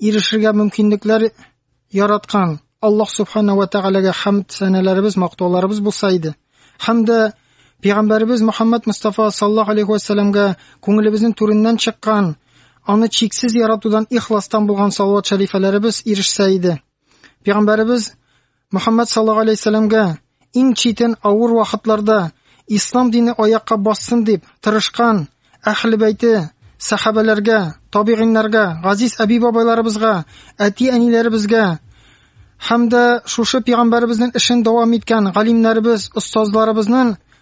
ирешергә мөмкинлекләр яраткан Аллаһ Субхана ва Тәгаләгә хәмд сәнәләребез, мактауларыбыз булса иде. Һәм дә Пәйгамбәребез Мөхәммәд Мустафа саллаллаһу алейхи ва сәлламгә күңелебезнең түреннән чыккан, аны чиксез яратудан ихластан булган салават шәрифәләребез ирешсә иде. Пәйгамбәребез Мөхәммәд саллаллаһу алейһи вәсәлләмгә иң читен авыр вакытларда ислам дине аякка бассын дип тырышкан Әхле бәйте, сәхабәләргә, табигыйннарга, газиз әби-бабайларыбызга, әти-әниләребезгә һәм дә шушы пигамбәребезнең эшен дәвам иткән галимнәребез, остазларыбызның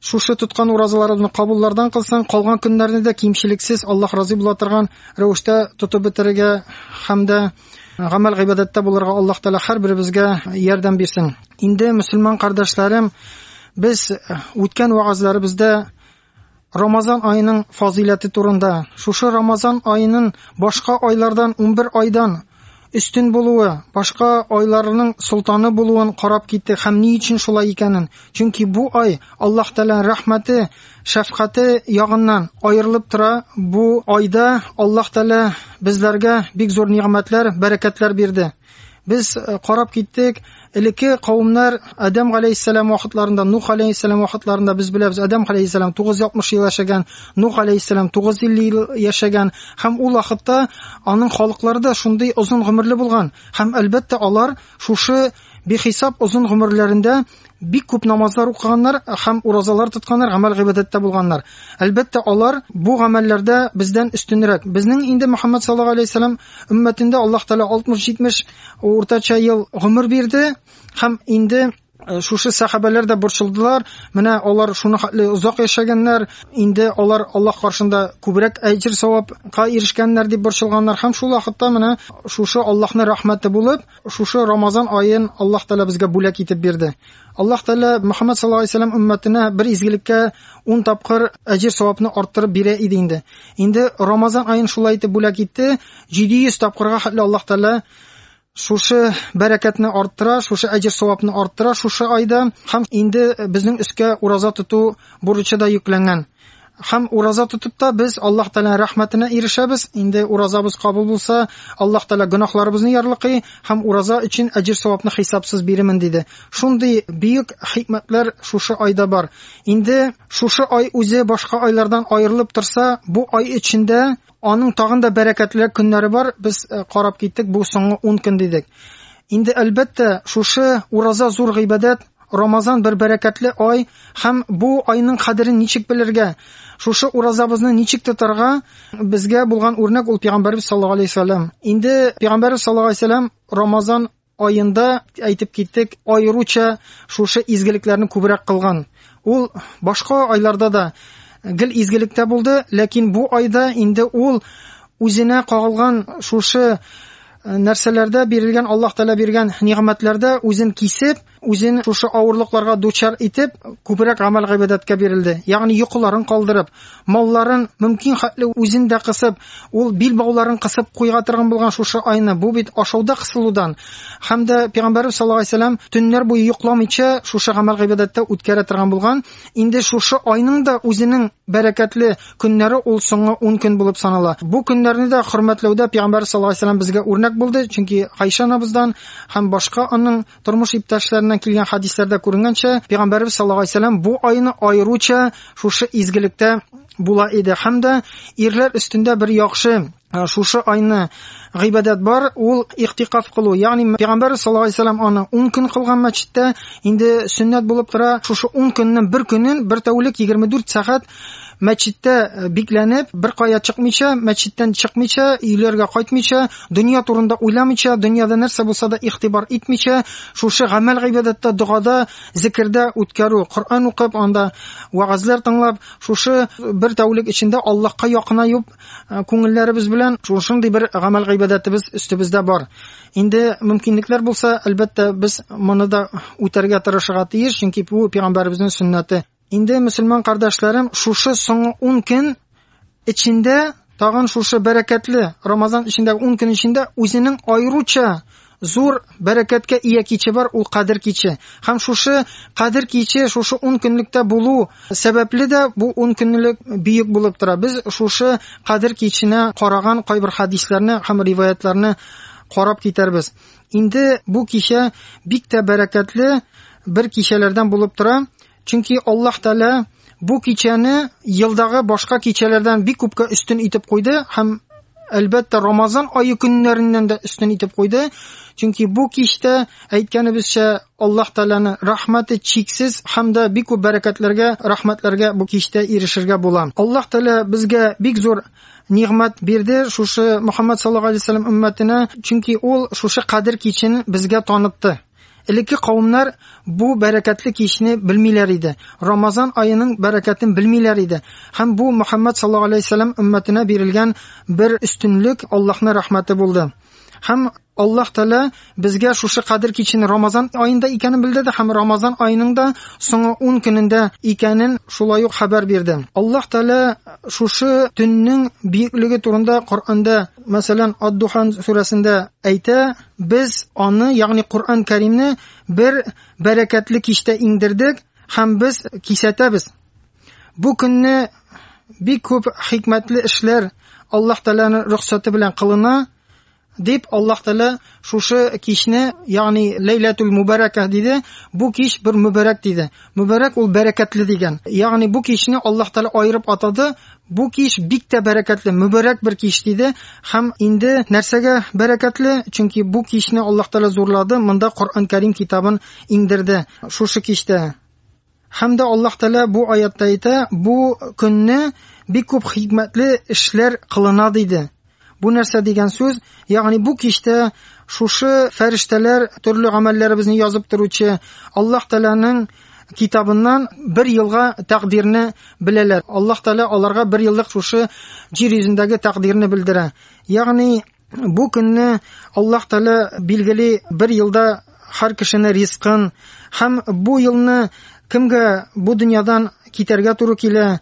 Шушы тоткан уразаларыбызны кабуллардан кылсаң, калган көннәрне дә кимчелексез, Аллаһ разый була торган рәвештә тотып бетерергә һәм дә гамәл гыйбадәттә булырга Аллаһ Тәгалә һәрберебезгә ярдәм бирсен. Инде мөселман кардәшләрем, без үткән вагазларыбызда Рамазан аеның фазыйләте турында, шушы Рамазан аенын башка айлардан, 11 айдан өстен булуы, башка айларның солтаны булуын карап китте һәм ни өчен шулай икәнен. Чөнки бу ай Аллаһ Тәгаләнең рәхмәте, шәфкате ягыннан аерылып тора. Бу айда Аллаһ Тәгалә безләргә бик зур нигъмәтләр, бәрәкәтләр бирде. Без э, карап киттек, Элекке кавымнар Адәм галәйһиссәлам вакытларында, Нух галәйһиссәлам вакытларында без беләбез, Адәм галәйһиссәлам 960 ел яшәгән, Нух галәйһиссәлам 950 ел яшәгән һәм ул вакытта аның халыклары да шундый озын гомерле булган. Һәм әлбәттә алар шушы бихисап озын гомерләрендә бик күп намазлар укыганнар һәм уразалар тотканнар, гамәл гыйбадәттә булганнар. Әлбәттә, алар бу гамәлләрдә бездән өстенрәк. Безнең инде Мөхәммәд саллаллаһу алейһи ва сәлләм өммәтендә Аллаһ Тәгалә 60-70 Уртача ел гомер бирде һәм инде Э, шушы сәхабәләр дә борчылдылар менә алар шуны хәтле озак яшәгәннәр инде алар аллаһ каршында күбрәк әҗер савапка ирешкәннәр дип борчылганнар һәм шул вакытта менә шушы аллаһны рәхмәте булып шушы рамазан аен аллаһ тәала безгә бүләк итеп бирде аллаһ тәала мөхәммәд саллаллаху алейһи вәсәләм өммәтенә бер изгелеккә ун тапкыр әҗер савапны арттырып бирә иде инде инде рамазан аен шулай итеп бүләк итте 700 тапкырга хәтле Аллаһ Тәгалә шушы бәрәкәтне арттыра, шушы әҗер савапны арттыра шушы айда һәм инде безнең өскә ураза тоту бурычы да йөкләнгән. Һәм ураза тотып та без Аллаһ Тәгалә рәхмәтенә ирешәбез. Инде уразабыз кабул булса, Аллаһ Тәгалә гөнаһларыбызны ярлыкый һәм ураза өчен әҗер савапны хисапсыз биремен диде. Шундый бөек хикмәтләр шушы айда бар. Инде шушы ай үзе башка айлардан аерылып торса, бу ай эчендә Аның тагын да бәрәкәтлерәк көннәре бар. Без э, карап киттек, бу соңгы 10 көн дидек. Инде әлбәттә, шушы ураза зур гыйбадәт, Рамазан бер бәрәкәтле ай һәм бу айның кадерен ничек белергә, шушы уразабызны ничек тотарга безгә булган үрнәк ул пәйгамбәрбез саллаллаһу алейһи вәсәлләм. Инде пәйгамбәрбез саллаллаһу алейһи вәсәлләм Рамазан аенда әйтеп киттек, аеруча шушы изгелекләрне күбрәк кылган. Ул башка айларда да гел изгелектә булды, ләкин бу айда инде ул үзенә кагылган шушы э, нәрсәләрдә бирелгән Аллаһ Тәгалә биргән нигъмәтләрдә үзен кисеп, үзен шушы авырлыкларга дучар итеп, күбрәк гамәл гыйбадәткә бирелде. Ягъни йокыларын калдырып, Малларын, мөмкин хәтле үзен дә кысып, ул бил бауларын кысып куйга торган булган шушы айны, бу бит ашауда кысылудан һәм дә Пәйгамбәребез саллаллаһу алейһи ва сәлләм төннәр буе йокламыйча шушы гамәл-гыйбадәттә үткәрә торган булган, инде шушы айның да үзенең бәрәкәтле көннәре ул соңгы ун көн булып санала. Бу көннәрне дә хөрмәтләүдә Пәйгамбәребез саллаллаһу алейһи ва сәлләм безгә үрнәк булды, чөнки Гайшә анабыздан һәм башка аның Тормыш иптәшләреннән килгән хәдисләрдә күренгәнчә, Пәйгамбәрбез саллаллаһу алейһи вәсәлләм бу айны аеруча шушы изгелектә була иде һәм дә ирләр өстендә бер яхшы э, шушы айны гыйбадәт бар, ул ихтикаф кылу. Ягъни Пәйгамбәрбез саллаллаһу алейһи вәсәлләм аны 10 көн кылган мәчеттә, инде сөннәт булып тора, шушы 10 көннең бер көнен бер тәүлек 24 сәгать мәчеттә э, бикләнеп, беркая чыкмыйча, мәчеттән чыкмыйча, өйләргә кайтмыйча, дөнья турында уйламыйча, дөньяда нәрсә булса да игътибар итмичә, шушы гамәл гыйбадәттә, догада, зикердә үткәрү, Коръән укып, анда вагазлар тыңлап, шушы э, бер тәүлек эчендә Аллаһка якынаюып, э, күңелләребез белән шушындый бер гамәл гыйбадәтебез өстебездә бар. Инде мөмкинлекләр булса, әлбәттә, без моны да үтәргә тырышырга тиеш, чөнки бу пәйгамбәребезнең сөннәте. Инде мөселман кардәшләрем, шушы соңгы 10 көн эчендә, тагын шушы бәрәкәтле Рамазан эчендә 10 көн эчендә үзенең аеруча зур бәрәкәткә ия киче бар, ул Кадер киче. Һәм шушы Кадер киче, шушы 10 көнлектә булу сәбәпле дә бу 10 көнлек бөек булып тора. Без шушы Кадер киченә караган кайбер хадисларны һәм риваятларны карап китәрбез. Инде бу кичә бик тә бәрәкәтле бер кичәләрдән булып тора. Чөнки Аллаһ Тәгалә бу кичәне елдагы башка кичәләрдән бик күпкә өстен итеп куйды һәм әлбәттә Рамазан ае көннәреннән дә өстен итеп куйды. Чөнки бу кичтә әйткәнебезчә Аллаһ Тәгаләне рәхмәте чиксез һәм дә бик күп бәрәкәтләргә, рәхмәтләргә бу кичтә ирешергә була. Аллаһ Тәгалә безгә бик зур нигъмәт бирде шушы Мөхәммәд саллаллаһу алейһи ва сәлләм өммәтенә, чөнки ул шушы кадер кичен безгә танытты. Элекке кавемнәр бу бәрәкәтле кичне белмиләр иде, Рамазан аеның бәрәкәтен белмиләр иде һәм бу Мөхәммәд саллаһу аләйһи вә сәлләм өммәтенә бирелгән бер өстенлек, Аллаһның рәхмәте булды. Һәм Аллаһ Тәгалә безгә шушы Кадер кичен Рамазан аенда икәнен белдерде һәм Рамазан аеның да соңгы ун көнендә икәнен шулай ук хәбәр бирде. Аллаһ Тәгалә шушы төннең биеклеге турында Коръәндә, мәсәлән, Ад-Духан сүрәсендә әйтә, Без аны, ягъни Коръән Кәримне бер бәрәкәтле кичтә иңдердек һәм без кисәтәбез. Бу көнне бик күп хикмәтле эшләр Аллаһ Тәгаләнең рөхсәте белән кылына, дип Аллаһ Тәгалә шушы кичне, ягъни Ләйләтул Мубаракә диде. Бу кич бер мубарак диде. Мубарак ул бәрәкәтле дигән. Ягъни бу кичне Аллаһ Тәгалә аерып атады, Бу кич бик тә бәрәкәтле, мөбарәк бер кич, диде. Һәм инде нәрсәгә бәрәкәтле? Чөнки бу кичне Аллаһ Тәгалә зурлады, монда Коръән Кәрим китабын иңдерде. Шушы кичтә. Һәм дә Аллаһ Тәгалә бу аятта әйтә, бу көнне бик күп хикмәтле эшләр кылына, диде. Бу нәрсә дигән сүз? Ягъни бу кичтә шушы фәрештәләр төрле гамәлләребезне язып торучы Аллаһ Тәгаләнең китабыннан бер елга тәкъдирне беләләр. Аллаһ Тәгалә аларга бер еллык шушы җир йөзендәге тәкъдирне белдерә. Ягъни бу көнне Аллаһ Тәгалә билгели бер елда һәр кешене ризкын һәм бу елны кемгә бу дөньядан китәргә туры килә,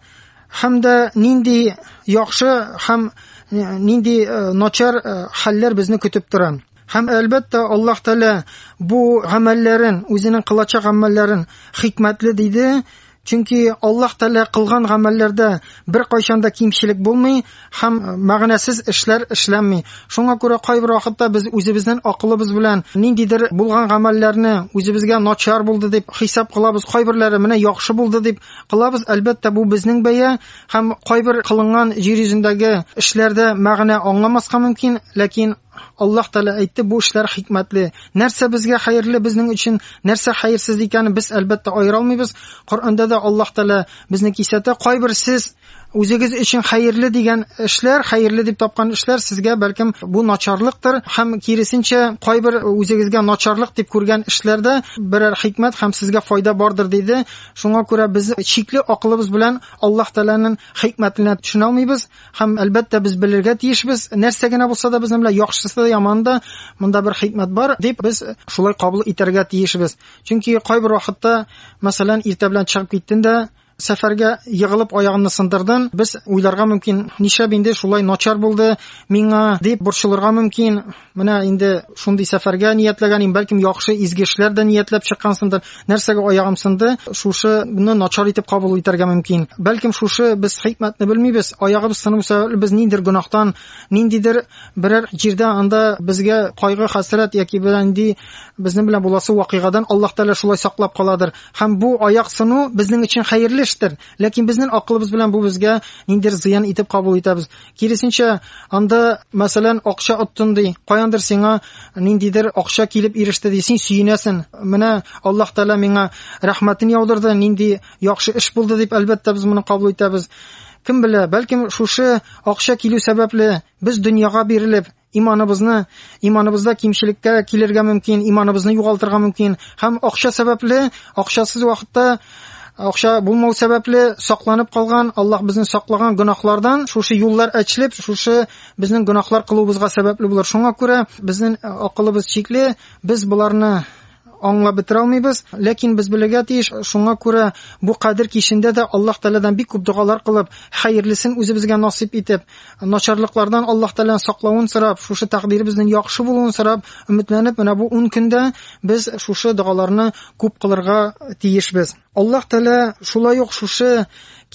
һәм дә нинди яхшы һәм э, нинди э, начар э, хәлләр безне көтеп тора. Һәм әлбәттә Аллаһ Тәгалә бу гамәлләрен, үзенең кылачак гамәлләрен хикмәтле диде, чөнки Аллаһ Тәгалә кылган гамәлләрдә бер кайчан да кимчелек булмый һәм мәгънәсез эшләр эшләнми. Шуңа күрә кайбер вакытта без үзебезнең акылыбыз белән ниндидер булган гамәлләрне үзебезгә начар булды дип хисап кылабыз, кайберләре менә яхшы булды дип Кылабыз, әлбәттә, бу безнең бәя һәм кайбер кылынган җир йөзендәге эшләрдә мәгънә аңламаска мөмкин, ләкин Аллаһ Тәгалә әйтте, бу эшләр хикмәтле. Нәрсә безгә хәерле безнең өчен, нәрсә хәерсез икәнен без әлбәттә аера алмыйбыз. Коръәндә дә Аллаһ Тәгалә безне кисәтә, кайбер сез Үзегез өчен хәерле дигән эшләр, хәерле дип тапкан эшләр сезгә бәлкем бу начарлыктыр һәм киресенчә кайбер үзегезгә начарлык дип күргән эшләрдә берәр хикмәт һәм сезгә файда бардыр диде. Шуңа күрә без чикле акылыбыз белән Аллаһ Тәгаләнең хикмәтенә төшенә алмыйбыз һәм әлбәттә без белергә тиешбез. Нәрсә генә булса да безнең белән яхшысы да яманы да монда бер хикмәт бар дип без шулай кабул итәргә тиешбез. Чөнки кайбер вакытта мәсәлән иртә белән чыгып киттен дә сәфәргә егылып аягымны сындырдым. Без уйларга мөмкин, нишләп инде шулай начар булды миңа дип борчылырга мөмкин. Менә инде шундый сәфәргә ниятләгән идем, бәлкем яхшы изге эшләр дә ниятләп чыккансындыр. Нәрсәгә аягым сынды? Шушыны начар итеп кабул итәргә мөмкин. Бәлкем шушы без хикмәтне белмибез. Аягыбыз сыну сәбәпле без ниндидер гөнаһтан, ниндидер берәр җирдә анда безгә кайгы, хәсрәт яки берәр нинди безнең белән буласы вакыйгадан Аллаһ Тәгалә шулай саклап каладыр. Һәм бу аяк сыну безнең өчен хәерле эштер. Ләкин безнең акылыбыз белән бу безгә ниндер зыян итеп кабул итәбез. Киресенчә, анда, мәсәлән, акча оттын ди, каяндыр сиңа ниндидер акча килеп иреште ди, син сөенәсен. Менә Аллаһ Тәгалә миңа рәхмәтен яудырды, нинди яхшы эш булды дип, әлбәттә, без моны кабул итәбез. Кем белә, бәлкем шушы акча килү сәбәпле без дөньяга бирелеп, Иманыбызны, иманыбызда кимчелеккә килергә мөмкин, иманыбызны югалтырга мөмкин һәм акча сәбәпле, акчасыз вакытта акча булмау сәбәпле сакланып калган, Аллаһ безне саклаган гөнаһлардан шушы юллар әчлеп, шушы безнең гөнаһлар кылуыбызга сәбәпле булыр. Шуңа күрә безнең акылыбыз чикле, без боларны аңлап бетерә алмыйбыз, ләкин без белергә тиеш, шуңа күрә бу кадер кичендә дә Аллаһ Тәгаләдән бик күп догалар кылып, хәерлесен үзебезгә насыйп итеп, начарлыклардан Аллаһ Тәгаләнең саклавын сорап, шушы тәкъдиребезнең яхшы булуын сорап, өметләнеп, менә бу 10 көндә без шушы догаларны күп кылырга тиешбез. Аллаһ Тәгалә шулай ук шушы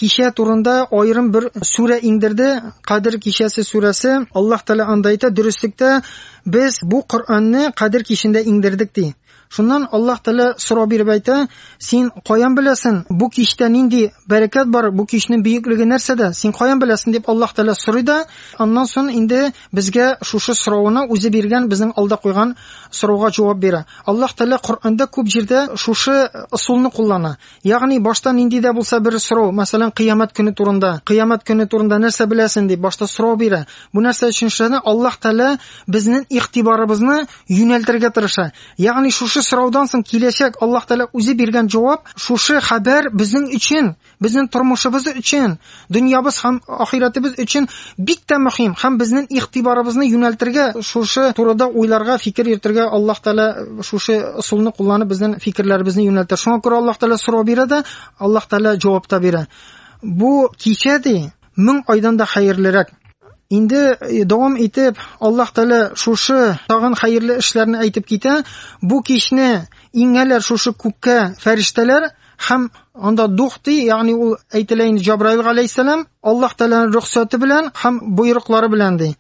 кичә турында аерым бер сүрә иңдерде, Кадр кичәсе сүрәсе. Аллаһ Тәгалә анда әйтә, дөреслектә без бу Коръәнне Кадр кичендә иңдердек ди. Шуннан Аллаһ Тәгалә сорау биреп әйтә, син каян беләсен? Бу кичтә нинди бәрәкәт бар? Бу кичнең бөеклеге нәрсәдә? Син каян беләсен дип Аллаһ Тәгалә сорый да, аннан соң инде Безгә шушы сорауны үзе биргән, безнең алда куйган сорауга җавап бирә. Аллаһ Тәгалә Коръәндә күп җирдә шушы ысулны куллана. Ягъни башта нинди дә булса бер сорау, мәсәлән, кыямәт көне турында, кыямәт көне турында нәрсә беләсең дип башта сорау бирә. Бу нәрсә өчен эшләнә? Аллаһ Тәгалә безнең игътибарыбызны юнәлтергә тырыша. Ягъни шушы сораудан соң киләчәк Аллаһ Тәгалә үзе биргән җавап, шушы хәбәр безнең өчен, Безнең тормышыбыз өчен, дөньябыз һәм ахирәтебез өчен бик тә мөһим һәм безнең игътибарыбызны юнәлтергә, шушы турыда уйларга, фикер йөртергә Аллаһ Тәгалә шушы ысулны кулланып безнең фикерләребезне юнәлтә. Шуңа күрә Аллаһ Тәгалә сорау бирә дә, Аллаһ Тәгалә җавап та бирә. Бу кичә ди, мең айдан да хәерлерәк. Инде э, дәвам итеп, Аллаһ Тәгалә шушы тагын хәерле эшләрне әйтеп китә. Бу кичне иңәләр шушы күккә фәрештәләр, Һәм анда духти, ягъни ул әйтелә инде Җабраил галәйһиссәлам, Аллаһ Тәгаләнең рөхсәте белән һәм боерыклары белән ди.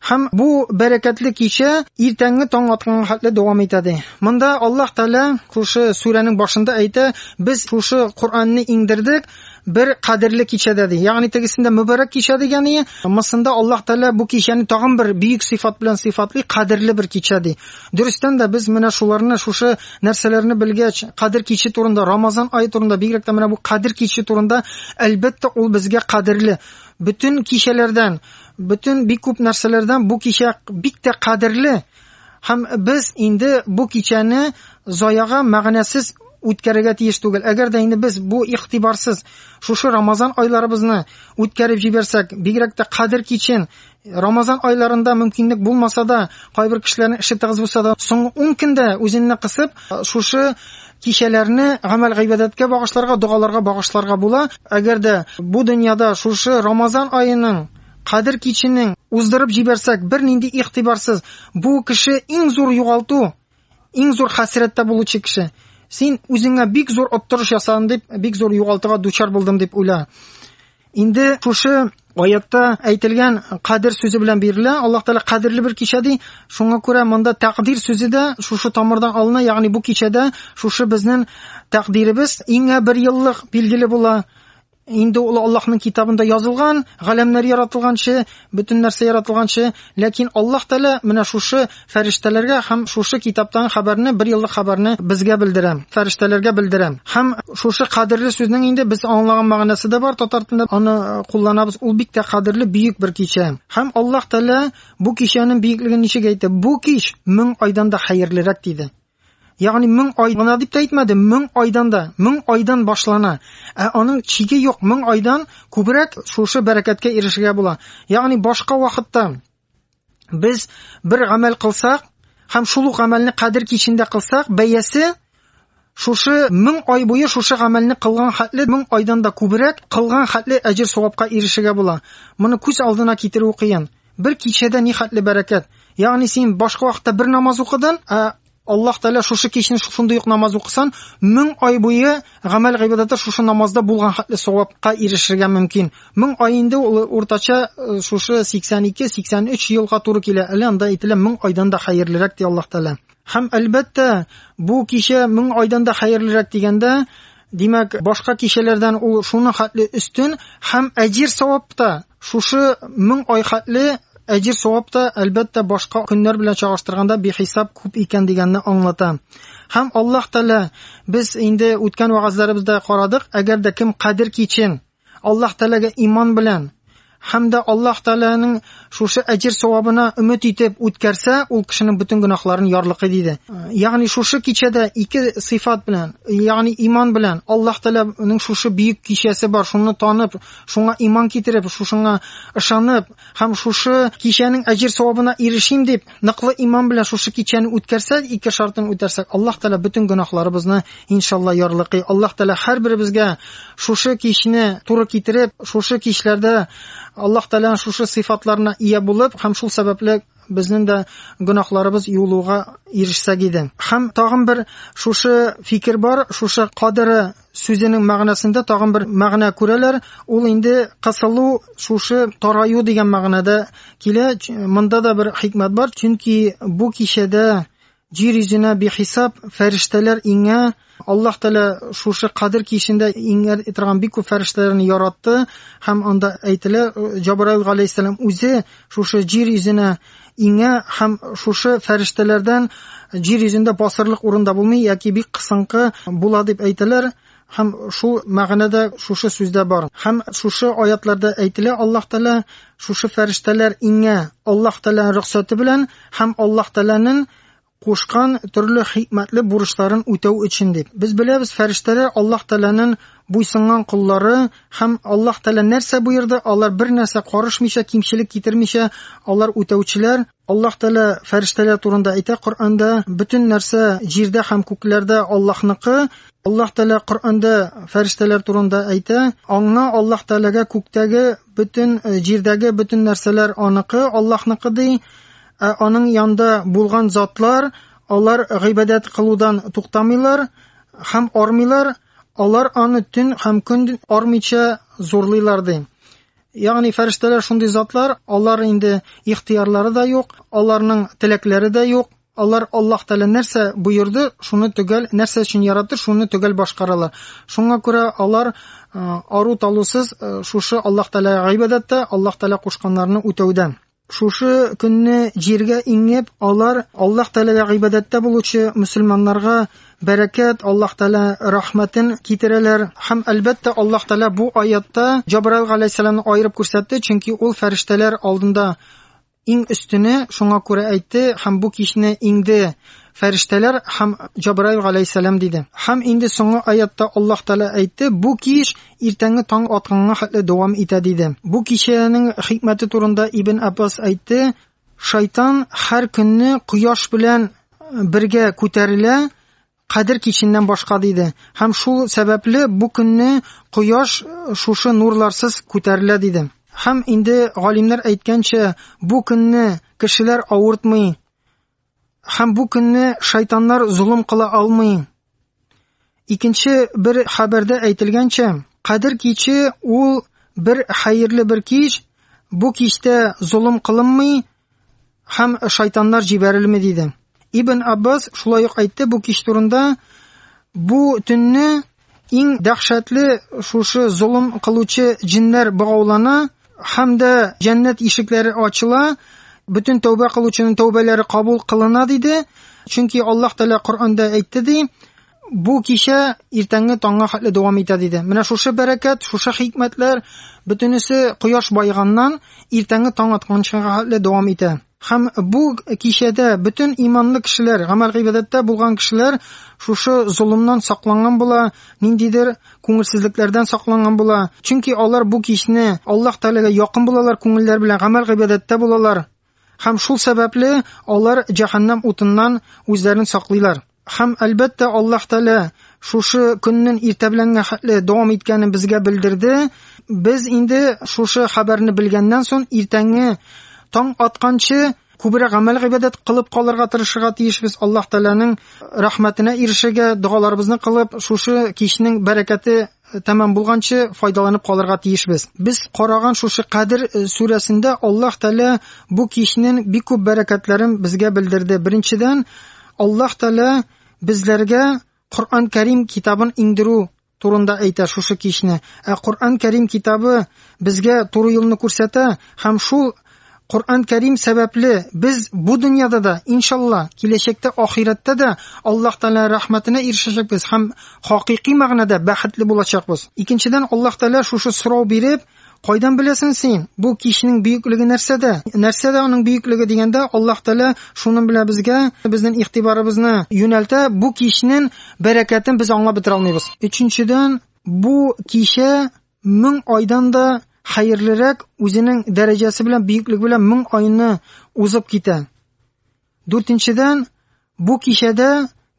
Һәм бу бәрәкәтле кичә иртәнге таң атканга хәтле дәвам итә ди. Монда Аллаһ Тәгалә шушы сүрәнең башында әйтә, без шушы Коръәнне иңдердек бер кадерле кичәдә ди. Ягъни тегесендә мөбарәк кичә дигәне, мысында Аллаһ Тәгалә бу кичәне тагын бер бөек сыйфат белән сыйфатлый, кадерле бер кичә ди. Дөрестән дә, без менә шуларны, шушы нәрсәләрне белгәч, Кадер киче турында, Рамазан ае турында, бигрәк тә менә бу Кадер киче турында, әлбәттә, ул безгә кадерле. Бөтен кичәләрдән, бөтен бик күп нәрсәләрдән бу кичә бик тә кадерле. Һәм без инде бу кичәне заяга, мәгънәсез үткәрергә тиеш түгел. Әгәр дә инде без бу игътибарсыз шушы Рамазан айларыбызны үткәреп җибәрсәк, бигрәк тә Кадер кичен Рамазан айларында мөмкинлек булмаса да, кайбер кешеләрнең эше тыгыз булса да, соңгы 10 көндә үзенне кысып, шушы кичәләрне гамәл гыйбадәткә багышларга, догаларга багышларга була. Әгәр дә бу дөньяда шушы Рамазан аеның Кадер киченең уздырып җибәрсәк, бернинди игътибарсыз, бу кеше иң зур югалту, Иң зур хәсрәттә булучы кеше. Син үзеңә бик зур оттырыш ясадың дип, бик зур югалтуга дучар булдым дип уйла. Инде шушы аятта әйтелгән кадер сүзе белән бирелә. Аллаһ Тәгалә кадерле бер кичә ди. Шуңа күрә монда тәкъдир сүзе дә шушы тамырдан алына, ягъни бу кичәдә шушы безнең тәкъдиребез иңә бер еллык билгеле була. Инде ул Аллаһның китабында язылган, галәмнәр яратылганчы, бөтен нәрсә яратылганчы, ләкин Аллаһ Тәгалә менә шушы фәрештәләргә һәм шушы китаптагы хәбәрне, бер еллык хәбәрне безгә белдерә, фәрештәләргә белдерә. Һәм шушы кадерле сүзнең инде без аңлаган мәгънәсе дә бар, татар телендә аны кулланабыз, ул бик тә кадерле, бөек бер кичә. Һәм Аллаһ Тәгалә бу кичәнең бөеклеген ничек әйтте? Бу кич мең айдан да хәерлерәк, диде. Ягъни мең ай гына дип тә әйтмәде, мең айдан да, мең айдан башлана. Ә аның чиге юк, мең айдан күбрәк шушы бәрәкәткә ирешергә була. Ягъни башка вакытта без бер гамәл кылсак һәм шул ук гамәлне кадер кичендә кылсак, бәясе шушы мең ай буе шушы гамәлне кылган хәтле мең айдан да күбрәк кылган хәтле әҗер савапка ирешергә була. Моны күз алдына китерү кыен. Бер кичәдә ни хәтле бәрәкәт! Ягъни син башка вакытта бер намаз укыдың, ә Аллаһ Тәгалә шушы кичне шушындый ук намаз укысан, мең ай буе гамәл гыйбадәте шушы намазда булган хәтле савапка ирешергә мөмкин. Мең ай инде ул уртача э, шушы 82-83 елга туры килә. Әле анда әйтелә мең айдан да хәерлерәк ди Аллаһ Тәгалә. Һәм әлбәттә, бу кичә мең айдан да хәерлерәк дигәндә, димәк, башка кичәләрдән ул шуның хәтле өстен һәм әҗир савап та Шушы мең ай хәтле әҗер-савап та, әлбәттә, башка көннәр белән чагыштырганда бихисап күп икән дигәнне аңлата. Һәм Аллаһ Тәгалә, без инде үткән вәгазьләребездә карадык, әгәр дә кем Кадер кичен Аллаһ Тәгаләгә иман белән һәм дә Аллаһ Тәгаләнең шушы әҗер савабына өмет итеп үткәрсә, ул кешенең бөтен гөнаһларын ярлыкый диде. Ягъни шушы кичәдә ике сыйфат белән, ягъни иман белән Аллаһ Тәгаләнең шушы бөек кичәсе бар, шуны танып, Шуңа иман китереп, шушыңа ышанып һәм шушы кичәнең әҗер-савабына ирешим дип, ныклы иман белән шушы кичәне үткәрсәк, ике шартын үтәрсәк, Аллаһ Тәгалә бөтен гөнаһларыбызны иншалла ярлыкый. Аллаһ Тәгалә һәрберебезгә шушы кичне туры китереп, шушы кичләрдә Аллаһ Тәгаләнең шушы сыйфатларына ия булып һәм шул сәбәпле безнең дә гөнаһларыбыз юылуга ирешсәк иде. Һәм тагын бер шушы фикер бар, шушы кадере сүзенең мәгънәсендә тагын бер мәгънә күрәләр. Ул инде кысылу, шушы тараю дигән мәгънәдә килә. Монда да бер хикмәт бар, чөнки бу кичәдә җир йөзенә бихисап фәрештәләр иңә. Аллаһ Тәгалә шушы кадер кичендә иңә торган бик күп фәрештәләрне яратты һәм анда әйтелә, Җабраил галәйһиссәлам үзе шушы җир йөзенә иңә һәм шушы фәрештәләрдән җир йөзендә басырлык урын да булмый яки бик кысынкы була дип әйтәләр һәм шул мәгънәдә шушы сүздә бар һәм шушы аятларда әйтелә аллаһ тәлә шушы фәрештәләр иңә аллаһ тәләнең рөхсәте белән һәм аллаһ тәләнең кушкан төрле хикмәтле бурычларын үтәү өчен дип. Без беләбез, фәрештәләр Аллаһ Тәгаләнең буйсынган коллары һәм Аллаһ Тәгалә нәрсә боерды, алар бер нәрсә карышмыйча, кимчелек китермичә, алар үтәүчеләр. Аллаһ Тәгалә фәрештәләр турында әйтә Коръәндә, бөтен нәрсә җирдә һәм күкләрдә Аллаһныкы. Аллаһ Тәгалә Коръәндә фәрештәләр турында әйтә, Аңа, Аллаһ Тәгаләгә күктәге бөтен, җирдәге бөтен нәрсәләр аныкы, Аллаһныкы, ди. Ә аның янда булган затлар, алар гыйбадәт кылудан туктамыйлар һәм армыйлар, алар аны төн һәм көн армыйча зурлыйлар ди. Ягъни фәрештәләр шундый затлар, алар инде ихтыярлары да юк, аларның теләкләре дә юк, алар Аллаһ Тәгалә нәрсә боерды, шуны төгәл, нәрсә өчен яратты, шуны төгәл башкаралар. Шуңа күрә алар э, ару талусыз э, шушы Аллаһ Тәгаләгә гыйбадәттә, Аллаһ Тәгалә кушканнарны үтәүдә. Шушы көнне җиргә иңеп, алар Аллаһ Тәгаләгә гыйбадәттә булучы мөселманнарга бәрәкәт, Аллаһ Тәгалә рәхмәтен китерәләр. Һәм, әлбәттә, Аллаһ Тәгалә бу аятта Җабраил галәйһиссәламне аерып күрсәтте, чөнки ул фәрештәләр алдында иң өстене, шуңа күрә әйтте, һәм бу кичне иңде фәрештәләр һәм Җабраил галәйһиссәлам диде. Һәм инде соңгы аятта Аллаһ Тәгалә әйтте, бу кич Иртәнге таң атканга хәтле дәвам итә, диде. Бу кичәнең хикмәте турында Ибн Аббас әйтте, Шайтан һәр көнне кояш белән бергә күтәрелә, кадер киченнән башка, диде. Һәм шул сәбәпле бу көнне кояш шушы нурларсыз күтәрелә, диде. Һәм инде галимнәр әйткәнчә, бу көнне кешеләр авыртмый, Һәм бу көнне шайтаннар золым кыла алмый. Икенче бер хәбәрдә әйтелгәнчә, Кадер киче ул бер хәерле бер кич, бу кичтә золым кылынмый һәм шайтаннар җибәрелми диде. Ибн Аббас шулай ук әйтте бу кич турында, бу төнне Иң дәһшәтле шушы золым кылучы җеннәр богаулана һәм дә җәннәт ишекләре ачыла, бөтен тәүбә кылучының тәүбәләре кабул кылына, диде. Чөнки Аллаһ Тәгалә Коръәндә әйтте, ди, бу кичә иртәнге таңга хәтле дәвам итә, диде. Менә шушы бәрәкәт, шушы хикмәтләр бөтенесе кояш байыганнан иртәнге таң атканчыга хәтле дәвам итә. Һәм бу кичәдә бөтен иманлы кешеләр, гамәл-гыйбадәттә булган кешеләр шушы золымнан сакланган була, ниндидер күңелсезлекләрдән сакланган була. Чөнки алар бу кичне Аллаһ Тәгаләгә якын булалар, күңелләр белән гамәл-гыйбадәттә булалар. Һәм шул сәбәпле алар җәһәннәм утыннан үзләрен саклыйлар. Һәм, әлбәттә, Аллаһ Тәгалә шушы көннен иртә беләнгә хәтле дәвам иткәнен безгә белдерде. Без инде шушы хәбәрне белгәннән соң иртәнге таң атканчы күбрәк гамәл гыйбадәт кылып калырга тырышырга тиешбез. Аллаһ Тәгаләнең рәхмәтенә ирешергә, догаларыбызны кылып, шушы кичнең бәрәкәте тәмам булганчы файдаланып калырга тиешбез. Без караган шушы Кадер э, сүрәсендә Аллаһ Тәгалә бу кичнең бик күп бәрәкәтләрен безгә белдерде. Беренчедән, Аллаһ Тәгалә безләргә Коръән Кәрим китабын иңдерү турында әйтә шушы кичне. Ә Коръән Кәрим китабы безгә туры юлны күрсәтә һәм шул Коръән Кәрим сәбәпле без бу дөньяда да, иншалла, киләчәктә ахирәттә дә Аллаһ Тәгалә рәхмәтенә ирешәчәкбез һәм хакыйкый мәгънәдә бәхетле булачакбыз. Икенчедән, Аллаһ Тәгалә шушы сорау биреп, Кайдан беләсең син, бу кичнең бөеклеге нәрсәдә? Нәрсәдә аның бөеклеге дигәндә, Аллаһ Тәгалә шуның белән безгә безнең игътибарыбызны юнәлтә, бу кичнең бәрәкәтен без аңлап бетерә алмыйбыз. Өченчедән, бу кичә Мең айдан да хәерлерәк үзенең дәрәҗәсе белән, бөеклеге белән мең айны узып китә. Дүртенчедән, бу кичәдә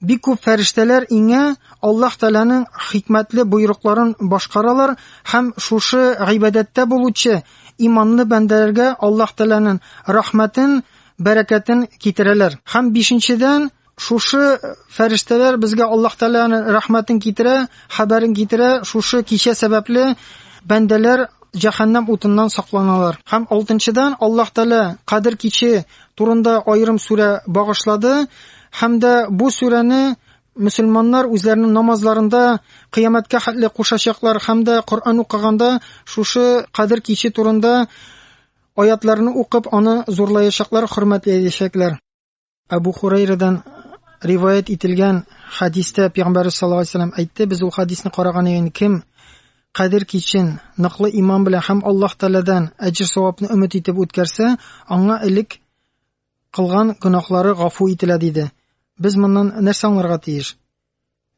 бик күп фәрештәләр иңә Аллаһ Тәгаләнең хикмәтле боерыкларын башкаралар һәм шушы гыйбадәттә булучы иманлы бәндәләргә Аллаһ Тәгаләнең рәхмәтен, бәрәкәтен китерәләр. Һәм бишенчедән, Шушы фәрештәләр безгә Аллаһ Тәгаләнең рәхмәтен китерә, хәбәрен китерә. Шушы кичә сәбәпле бәндәләр җәһәннәм утыннан сакланалар. Һәм алтынчыдан Аллаһ Тәгалә Кадер киче турында аерым сүрә багышлады һәм дә бу сүрәне мөселманнар үзләренең намазларында кыямәткә хәтле кушачаклар һәм дә Коръән укыганда шушы Кадер киче турында аятларны укып аны зурлаячаклар, хөрмәтләячәкләр. Абу Хурайрадан риваять ителгән хадистә Пәйгамбәр саллаллаху алейһи вәсәлләм әйтте, без ул хадисны караган идек, кем кадер кичен ныклы иман белән һәм Аллаһ Тәгаләдән әҗр савапны өмет итеп үткәрсә, аңа элек кылган гөнаһлары гафу ителә диде. Без моннан нәрсә аңларга тиеш?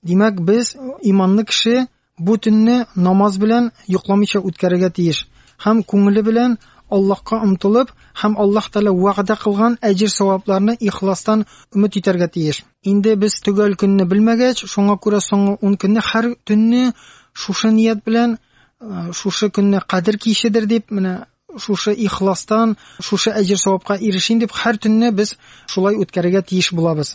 Димәк, без, иманлы кеше, бу төнне намаз белән йокламыйча үткәрергә тиеш һәм күңеле белән Аллаһка омтылып һәм Аллаһ Тәгалә вәгъдә кылган әҗер-савапларны ихластан өмет итәргә тиеш. Инде без төгәл көнне белмәгәч, шуңа күрә соңгы ун көнне һәр төнне шушы ният белән, шушы көнне Кадер кичедер дип, менә Шушы ихластан шушы әҗер-савапка ирешим дип, һәр төнне без шулай үткәрергә тиеш булабыз.